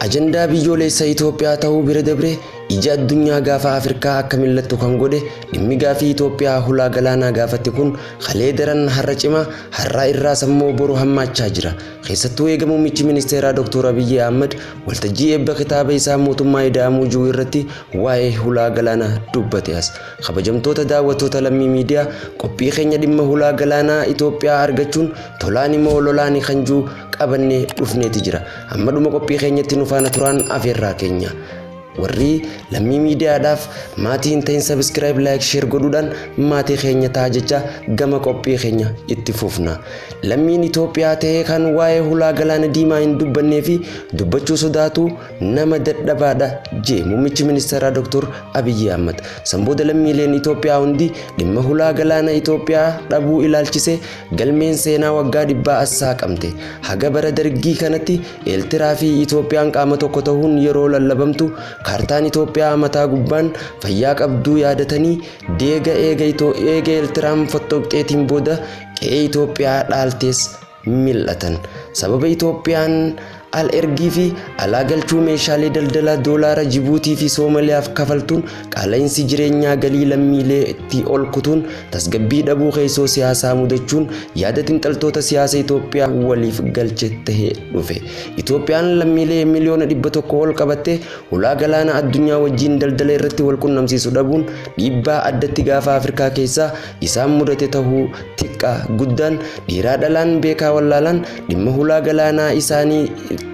Ajandaa biyyoolessa Itoophiyaa ta'uu bira dabree ija addunyaa gaafa Afrikaa akka mil'attu kan godhe dhimmi gaafii Itoophiyaa hulaa galaanaa gaafatti kun Kalee daran har'a cima, har'aa irraas ammoo boru hammaachaa jira. Keessattuu eega muummichi ministeeraa Dr. Abiyyi Ahmad waltajjii eebba kitaaba isaa Mootummaa Ida'amuu Jiru irratti waa'ee hulaa galaanaa dubbate as. Kabajamtoota daawwattoota Lammii Miidiyaa, qophii keenya dhimma hulaa galaanaa Itoophiyaa argachuun tolaani moo lolaani kan jiru qabannee dhufneeti jira. Amma dhuma qophii keenyatti nu faana turaan afeerraa keenya. Warri lammii miidiyaadhaaf maatii hin ta'in subscribe like share godhuudhaan maatii keenya ta'a jecha gama qophii keenya itti fufna. Lammiin Itoophiyaa ta'ee kan waa'ee hulaa galaana diimaa hin dubbannee fi dubbachuu sodaatu nama dadhabaadha jee muummichi ministeeraa Dr. Abiyyi Ahmad. San booda lammiileen Itoophiyaa hundi dhimma hulaa galaana Itoophiyaa dhabuu ilaalchise galmeen seenaa waggaa dhibbaa as saaqamte. Haga bara dargii kanatti Eertiraa fi Itoophiyaan qaama tokko tahuun yeroo lallabamtu kaartaan Itoophiyaa mataa gubbaan fayyaa qabduu yaadatanii deega eega Itoo eega Eertiraan fottoqxeetiin booda qe'ee Itoophiyaa dhaaltees mil'atan. Sababa Itoophiyaan al ergii fi alaa galchuu meeshaalee daldalaa doolaara Jibuutii fi Soomaliyaaf kafaltuun Qaala'insi jireenyaa galii lammiilee itti ol kutuun tasgabbii dhabuu keessoo siyaasaa mudachuun yaada xinxaltoota siyaasa Itoophiyaa waliif galche tahe dhufe. Itoophiyaan lammiilee miliyoona dhibba tokko ol qabatte hulaa galaana addunyaa wajjiin daldala irratti wal qunnamsiisu dhabuun dhiibbaa addatti gaafa Afrikaa keessaa isaan mudate tahuu tiqqaa guddaan dhiiraa dhalaan beekaa wallaalaan dhimma hulaa galaanaa isaanii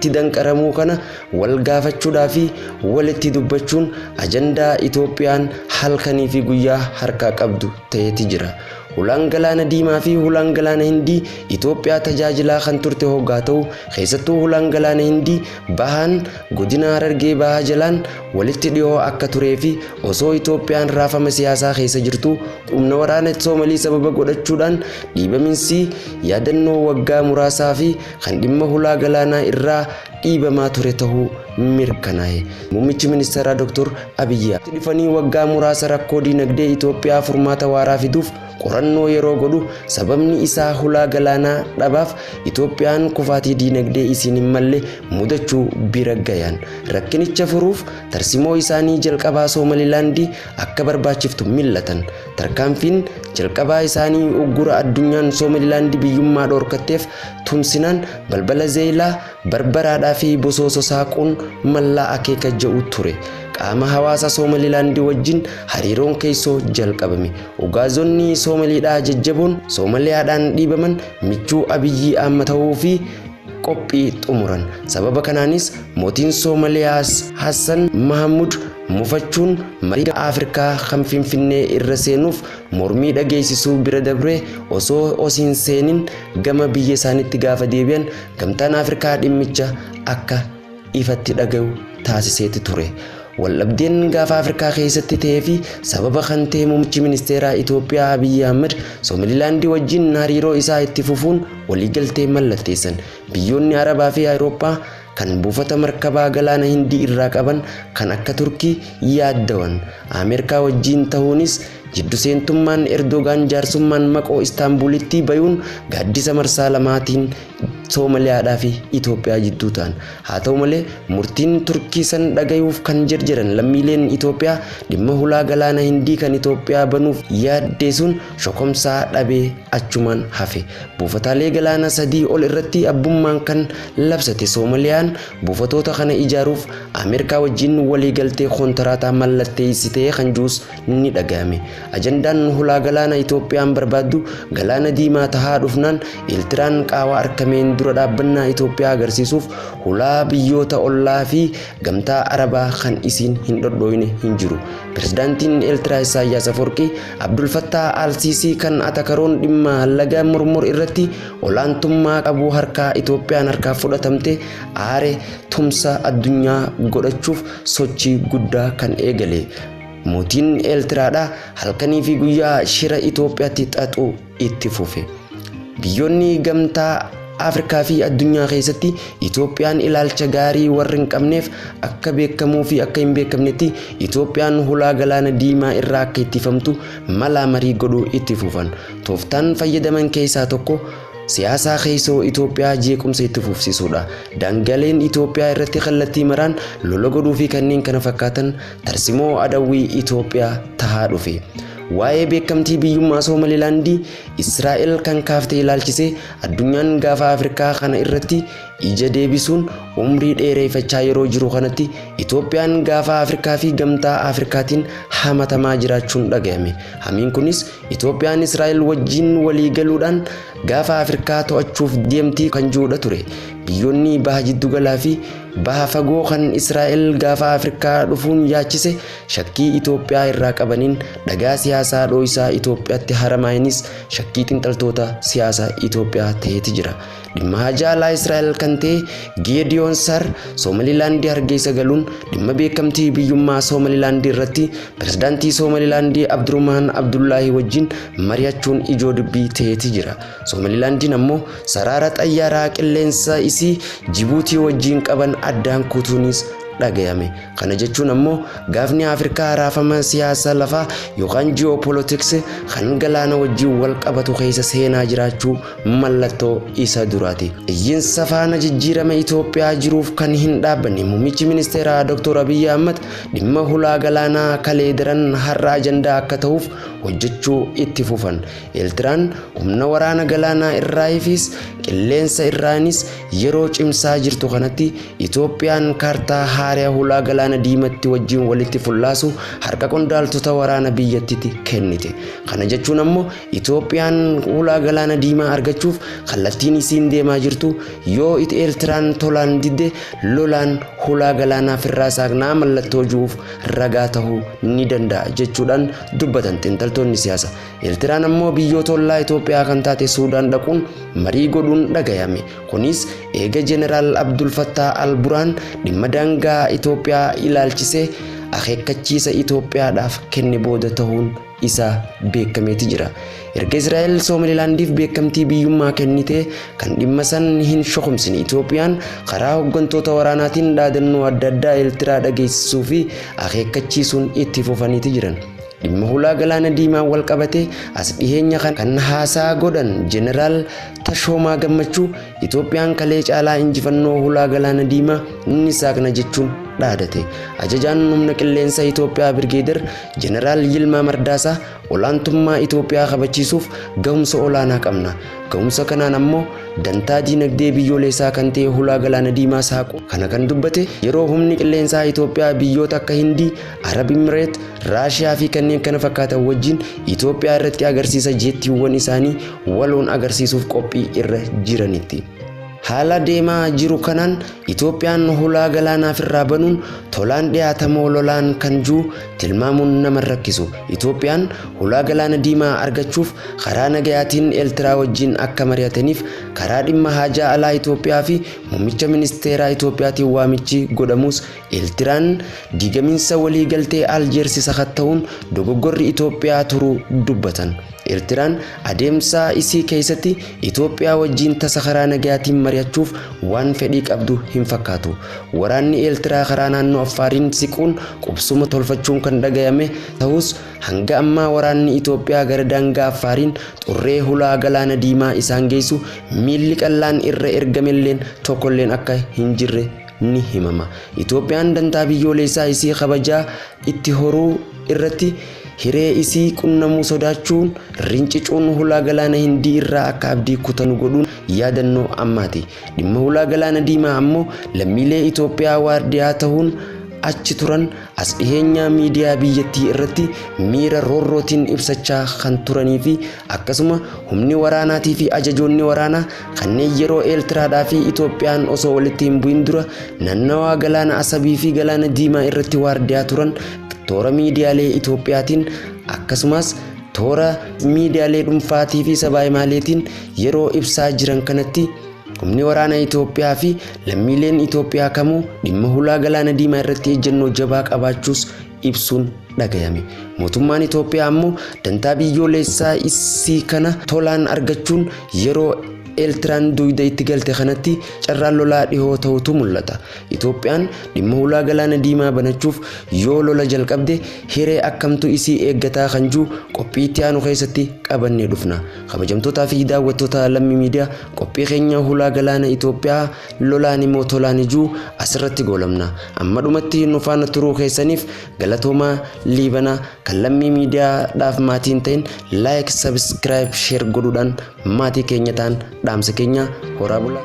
tti danqaramuu kana Wal gaafachuudhaa fi walitti dubbachuun ajandaa Itoophiyaan halkanii fi guyyaa harkaa qabdu ta'eeti jira. Hulaan Galaana Diimaa fi Hulaan Galaana Hindii Itoophiyaa tajaajilaa kan turte hoggaa ta'u, keessattuu Hulaan Galaana Hindii bahaan godina Harargee Bahaa jalaan walitti dhihoo akka turee fi osoo Itoophiyaan raafama siyaasaa keessa jirtuu humna waraana Soomalii sababa godhachuudhaan dhiibaminsii yaadannoo waggaa muraasaa fi kan dhimma hulaa galaanaa irraa dhiibamaa ture tahuu mirkanaa'e. Muummichi ministeeraa Dr. Abiyyi Ahmad dhufanii waggaa muraasa rakkoo diinagdee Itoophiyaa furmaata waaraa fiduuf qorannoo yeroo godhu sababni isaa hulaa galaanaa dhabaaf Itoophiyaan kufaatii diinagdee isiin hin malle mudachuu bira gayaan rakkinicha furuuf tarsimoo isaanii jalqabaa Soomalilaandii akka barbaachiftu millatan Tarkaanfiin jalqabaa isaanii uggura addunyaan Soomalilaandi biyyummaa dhoorkatteef tumsinaan balbala Zeeylaa, Barbaraadhaa fi Bosooso saaquun mallaa akeeka ja'u ture. Qaama hawaasa Soomalilaandi wajjin hariiroon keessoo jalqabame. Ugaazonni Soomaliidhaa jajjaboon Soomaliyaadhaan dhiibaman michuu Abiyyii Aamma ta'uu fi qophii xumuran. Sababa kanaanis mootiin Soomaliyaas Hassan Mahamud mufachuun mariin Afrikaa kan Finfinnee irra seenuuf mormii dhageessisuu bira dabree osoo os hin seenin gama biyya isaanitti gaafa deebi'an gamtaan Afrikaa dhimmicha akka ifatti dhagayu taasiseeti ture. Waldhabdeen gaafa Afrikaa keessatti ta'ee fi sababa kan ta'e muummichi ministeeraa Itoophiyaa Abiyyi Ahmad Soomililaandii wajjin hariiroo isaa itti fufuun waliigaltee mallatteessan. Biyyoonni Arabaa fi Awurooppaa kan buufata markabaa galaana Hindii irraa qaban kan akka Turkii yaaddawan. Ameerikaa wajjin ta'uunis jiddu seentummaan Erdoogaan jaarsummaan maqoo Istaanbuulitti bayuun gaaddisa marsaa lamaatiin Soomaliyaadhaa fi Itoophiyaa jidduu ta'an. Haa ta'u malee, murtiin Turkii san dhagayuuf kan jerjeran lammiileen Itoophiyaa dhimma hulaa galaana Hindii kan Itoophiyaa banuuf yaaddee sun shokomsaa dhabee achumaan hafe. Buufataalee galaana sadii ol irratti abbummaan kan labsate Soomaliyaan buufatoota kana ijaaruuf Ameerkaa wajjiin waliigaltee kontaraataa mallatteeysitee kan juus ni dhaga'ame. Ajandaan hulaa galaana Itoophiyaan barbaaddu galaana diimaa tahaa dhufnaan Eeltiraan qaawaa arkameen dura dhaabbannaa Itoophiyaa agarsiisuuf hulaa biyyoota ollaa fi gamtaa Arabaa kan isiin hin dhodhooyne hin jiru. Pirezidaantiin Eeltiraa Issaayyaas Afoorqii Abdul Fattaa Al-Siisii kan atakaroon dhimma laga murmur irratti olaantummaa qabu harkaa Itoophiyaan harkaa fudhatamte aare tumsa addunyaa godhachuuf sochii guddaa kan eegale. Mootiin Eeltiraadhaa halkanii fi guyyaa shira Itoophiyaatti xaxuu itti fufe. Biyyoonni gamtaa Afrikaa fi addunyaa keessatti Itoophiyaan ilaalcha gaarii warri hin qabneef akka beekamuu fi akka hin beekamnetti Itoophiyaan hulaa galaana diimaa irraa akka ittifamtu malaa marii godhuu itti fufan. Tooftaan fayyadaman keessaa tokko siyaasaa keessoo Itoophiyaa jeequmsa itti fufsisuudha. Daangaleen Itoophiyaa irratti kallattii maraan lola godhuu fi kanneen kana fakkaatan Tarsimoo adawwii Itoophiyaa tahaa dhufe. Waa'ee beekamtii biyyummaa Soomalilaandii Israa'el kan kaafte ilaalchisee addunyaan gaafa Afrikaa kana irratti ija deebisuun umrii dheereeffachaa yeroo jiru kanatti Itoophiyaan gaafa Afrikaa fi gamtaa Afrikaatiin hamatamaa jiraachuun dhagayame. Hamiin kunis Itoophiyaan Israa'el wajjiin walii galuudhaan gaafa Afrikaa to'achuuf deemti kan ji'udha ture. Biyyoonni baha jiddu galaa fi Baha fagoo kan Israa'el gaafa Afrikaa dhufuun yaachise shakkii Itoophiyaa irraa qabaniin dhagaa siyaasaa dhooysaa Itoophiyaatti haramaayinis shakkii xinxaltoota siyaasa Itoophiyaa ta'eeti jira. Dhimma haajaa alaa Israa'el kan ta'e Geediyoon Sar Soomalilaandii Hargeessa galuun dhimma beekamtii biyyummaa Soomalilaandii irratti pirezidaantii Soomalilaandii Abdurumaan Abdullaahii wajjin mari'achuun ijoo dubbii ta'eeti jira. Soomalilaandiin ammoo saraara xayyaaraa qilleensaa isii Jibuutii wajjiin qaban addaan kutuunis dhagayame. Kana jechuun ammoo gaafni Afrikaa raafama siyaasa lafaa yookaan geopolitics kan galaana wajjiin wal qabatu keessa seenaa jiraachuu mallattoo isa duraati. Iyyinsa faana jijjiirama Itoophiyaa jiruuf kan hin dhaabbanne muummichi ministeeraa Dr. Abiyyi Ahmad dhimma hulaa galaanaa kalee daran har'a ajandaa akka tahuuf hojjechuu itti fufan. Eeltiraan humna waraana galaanaa irraayifiis qilleensa irraanis yeroo cimsaa jirtu kanatti Itoophiyaan kaartaa haaraya hulaa galaana diimatti wajjin walitti fullaasu harka qondaaltota waraana biyyattitti kennite. Kana jechuun ammoo Itoophiyaan hulaa galaana diimaa argachuuf kallattiin isiin deemaa jirtu yoo it Eeltiraan tolaan didde lolaan hulaa galaanaa firraa saaqnaa mallattoo ju'uuf ragaa tahuu ni danda'a jechuudhaan dubbatan xinxaltoonni siyaasa. Eertiraan ammoo biyyoota ollaa Itoophiyaa kan taate Suudaan dhaquun marii godhuun dhagayame. Kunis eega Jeneraal Abdul Fattaa Al Buraan dhimma daangaa Itoophiyaa ilaalchisee akeekkachiisa Itoophiyaadhaaf kenne booda tahuun isaa beekameeti jira. Erga Israa'el Soomalilaandiif beekamtii biyyummaa kennitee kan dhimma san hin shokomsine Itoophiyaan karaa hoggantoota waraanaatiin dhaadannoo adda addaa Eertiraa dhageessisuu fi akeekkachiisuun itti fufaniiti jiran. Dhimma hulaa galaana diimaan wal qabatee as dhiheenya kana kan haasaa godhan Jeneraal Tashoomaa Gammachuu Itoophiyaan kalee caalaa injifannoo hulaa galaana diimaa ni saaqna jechuun dhaadate. Ajajaan humna qilleensa Itoophiyaa Birgeeder Jeneraal Yilmaa Mardaasaa olaantummaa Itoophiyaa kabachiisuuf gahumsa olaanaa qabna. Gahumsa kanaan ammoo dantaa diinagdee biyyooleessaa kan ta'e hulaa galaana diimaa saaquu kana kan dubbate yeroo humni qilleensaa Itoophiyaa biyyoota akka Hindii Arab Imireet, Raashiyaa fi kanneen kana fakkaatan wajjin Itoophiyaa irratti agarsiisa jeettiiwwan isaanii waloon agarsiisuuf qophii irra jiranitti. Haala deemaa jiru kanaan Itoophiyaan hulaa galaanaaf irraa banuun tolaan dhiyaatamoo lolaan kan jiru tilmaamuun nama hin rakkisu. Itoophiyaan hulaa galaana diimaa argachuuf karaa nagayaatiin Eeltiraa wajjin akka mari'ataniif karaa dhimma haajaa alaa Itoophiyaa fi muummicha ministeeraa Itoophiyaatiin waamichi godhamuus Eertiraan diigaminsa waliigaltee Aljeersi sakatta'uun dogoggorri Itoophiyaa turuu dubbatan. Eertiraan adeemsa isii keessatti Itoophiyaa wajjiin tasa karaa nagayaatiin mari'achuuf waan fedhii qabdu hin fakkaatu. Waraanni Eertiraa karaa naannoo Affaariin siquun qubsuma tolfachuun kan dhagayame tahus hanga ammaa waraanni Itoophiyaa gara daangaa Affaariin xurree hulaa Galaana Diimaa isaan geessu miilli qallaan irra ergamelleen tokkolleen akka hin jirre ni himama. Itoophiyaan dantaa biyyooleessaa isii kabajaa itti horuu irratti hiree isii qunnamuu sodaachuun rincicuun hulaa galaana Hindii irraa akka abdii kutanu godhuun yaadannoo ammaati. Dhimma hulaa galaana diimaa ammoo lammiilee Itoophiyaa waardiyaa tahuun achi turan As dhiheenyaa miidiyaa biyyattii irratti miira roorrootiin ibsachaa kan turanii fi akkasuma humni waraanaatii fi ajajoonni waraanaa kanneen yeroo Eeltiraadhaa fi Itoophiyaan osoo walitti hin bu'in dura nannawaa galaana Asabii fi galaana Diimaa irratti waardiyaa turan toora miidiyaalee Itoophiyaatiin akkasumas toora miidiyaalee dhuunfaatii fi sabaahimaaleetiin yeroo ibsaa jiran kanatti Humni waraana Itoophiyaa fi lammiileen Itoophiyaa kamuu dhimma hulaa galaana diimaa irratti ejjennoo jabaa qabaachuus ibsuun dhagayame. Mootummaan Itoophiyaa ammoo dantaa biyyooleessaa issii kana tolaan argachuun yeroo Eeltiraan duuyda itti galte kanatti carraan lolaa dhihoo ta'utu mul'ata. Itoophiyaan dhimma hulaa galaana diimaa banachuuf yoo lola jalqabde hiree akkamtu isii eeggataa kan juu qophii itti aanu keessatti qabannee dhufna. Kabajamtootaa fi daawwattoota Lammii Miidiyaa Qophii keenya hulaa galaana Itoophiyaa lolaani moo tolaan ijuu asirratti goolabna. Amma dhumatti nu faana turuu keessaniif galatoomaa liibana kan lammii miidiyaa dhaaf maatii hin ta'in like subscribe share godhuudhaan maatii keenya ta'an dhaamsa keenya horaa bulaa.